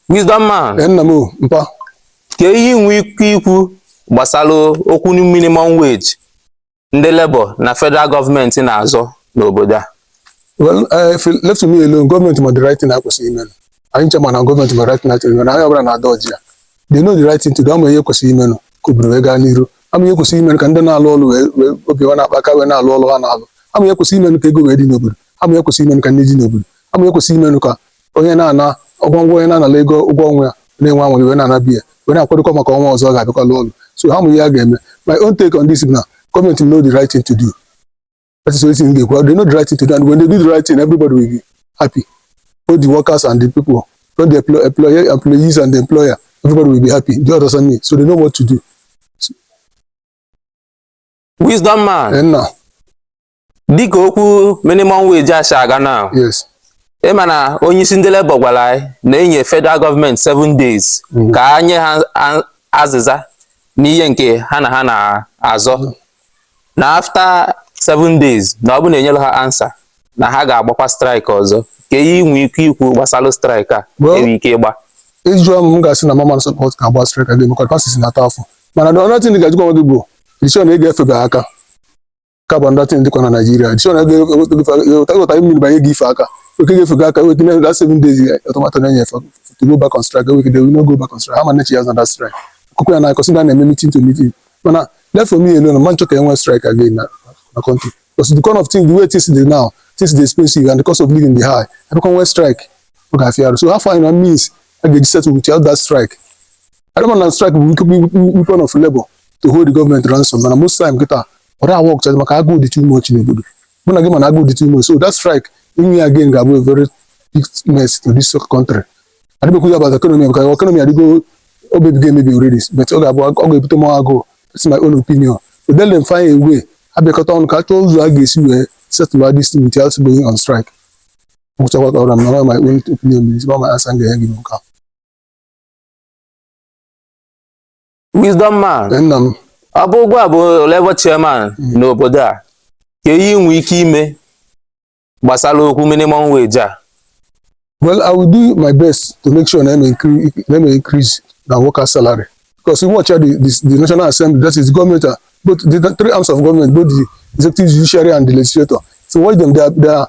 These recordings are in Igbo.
Wisdom man. Ee, nna m o, mpa. Kee ihe i nwe ike ikwu gbasara okwu minimum wage ndị Labour na federal gọọmenti na-azọ n'obodo a. Well, uh, if you left to me alone, gọọmenti ma the right thing a kwesịrị ime. Anyị, eche m na gọọmenti ma the right thing a kwesịrị ime. Na onye ọbụla na-ada ọjị ya. They know the right thing to do. Ha ma ihe kwesịrị ime nụ ka obodo wee gaa n'iru. Ha ma ihe kwesịrị ime nụ ka ndị na-alụ ọlụ wee wee obi ha na-akpa aka wee na-alụ ọlụ ha na-alụ. Ha ma ihe kwesịrị ime nụ ka ego wee dị n'obodo. Ha ma ihe kwesịrị ime nụ ka nni dị n'obodo. Ha ma ihe kwesịrị ime nụ ka onye na-ana ụgwọ ọnwa onye na-anala ego ụgwọ ọnwa ya na-enwe aṅụrị wee na-anabi ya wee na-akwadokwa maka ọnwa ọzọ ọ ga-abịakwa lụọ ọrụ so ha ma ihe a ga-eme my own take on this na gọọmenti know the right thing to do that is only thing m ga-ekwu they know the right thing to do and when they do the right thing everybody will be happy both the workers and the people both the employ- employer employees and the employer everybody will be happy do you understand me so they know what to do wisdom man and now dịka okwu minimum wage a si aga now yes ị ma na onye isi ndị Labour gwara anyị na enye federal gọọmenti 7 days ka a nye ha a- azịza n'ihe nke ha na ha na-azọ na after 7 days na ọ bụ na enyerọ ha answer na ha ga-agbakwa strike ọzọ kee ihe i nwe ike ikwu gbasara strike a Well- enwe ike ịgba ị jụọ m m ga-asị na m ama support ka a gbaa strike again maka masses na-ata afụfụ mana the only thing ị ga-ajụkwa onwe gị bụ iche na ị ga-efebe aka ka bụ ndị tin dịkwa na Naịjirịa chọ na ịghọta ihe mmiri banye gị ife aka oke ga-efe gị aka weta na seven days ultimatum na-enye efe to go back on strike go wegide no go back on strike ha ma nechi ya na that strike akụkọ a na-akọ sị na a na-eme meeting to meeting mana left for me alone m ama achọ ka e nwee strike again na na country because the kind of thing the way things dey now things dey expensive and the cost of living dey high a bịakwa nwee strike ọ ga-afịa arụ so ha find a means a ga-eji settle without that strike Although m ma na strike bụ nnukwu weapon of labor to hold the government ransom mana most time kịta ọ dịghị work chazi maka agụụ dị too much n'obodo mụ na gị ma na agụụ dị too much so that strike inwe ya again ga-abụ a very big mess to this country adịghị m ekwu ya about economy because economy adịgo o mebigo emebi already but ọ ga-abụ ọ ga-ebute more agụụ that's my own opinion so let them find a way ha bịakọta ọnụ ka a chọọ ụzọ a ga-esi wee settle this thing without going on strike gwụchakwa ka ọ ra m na my own opinion is not my answer m ga-enye gị n'ụka wisdom man nna m ọ bụ gịwa bụ labour chairman n'obodo a kee ihe ị nwee ike ime gbasara okwu minimum wage a well i will do my best to make sure na eme increase na eme increase na worker salary because you watch out the, the the national assembly that is the government ah, both the three arms of government both the executive judiciary and the legislature if you watch them they are they are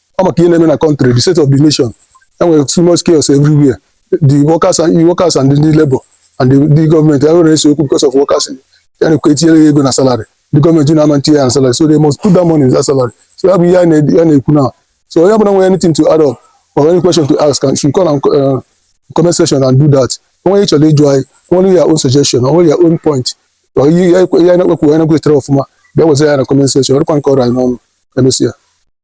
ọ maka ihe na-eme na country the state of the nation enwere too much chaos everywhere the workers and the labor and the, the government e wee na-ese okwu because of workers ya na-ekwu e tinyere ya ego na salary the government na ama etinye ya na salary so they must put that money in that salary so ya bụ ihe a na- ya na-ekwu na so onye ọbụla nwere anything to add up or any question to ask and should call and uh, comment section and do that o nwee ihe ị chọrọ ịjụ anyị o nwee your own suggestion o nwee your own point or ihe ya ekwe- ya na-ekwu ya na-ekwetere ọfụma bịa wezara ya na comment section ọrụkwa nke ọrụ anyị n'ọnụ emesịa